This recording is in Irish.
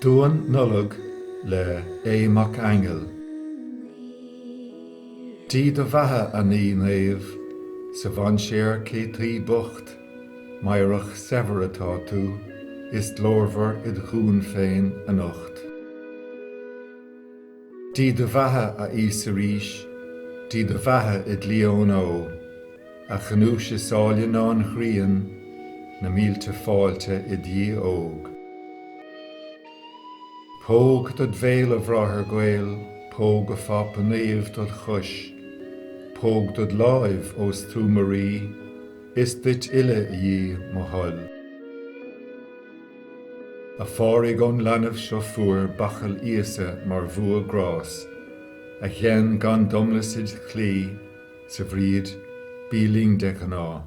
Duan Nollag le Aodh Mac Aingil. Dia do bheatha a Naí Naomh, sa mhainséar cé taoi bocht, Meidhreach saibhir atá tú, Is glórmhar id dhún féin anocht. Dia do bheatha, a Íosa, arís, Dia do bheatha i gclí ón Óigh, a ghnúis is áille ná an ghrian, na mílte fáilte do Dhia óg. Póg dod bhéal, a Bhráthair gaoil, póg, a Phápa Naomh, dod chois, póg dod láimh, ós tú mo rí, is duit uile, a Dhia, mo thoil. A Phádraig ón leanbh seo fuair bachall Íosa mar bhua grás, A ghein gan domlas id' chlí, 's a Bhríd, bí linn de ghnáth.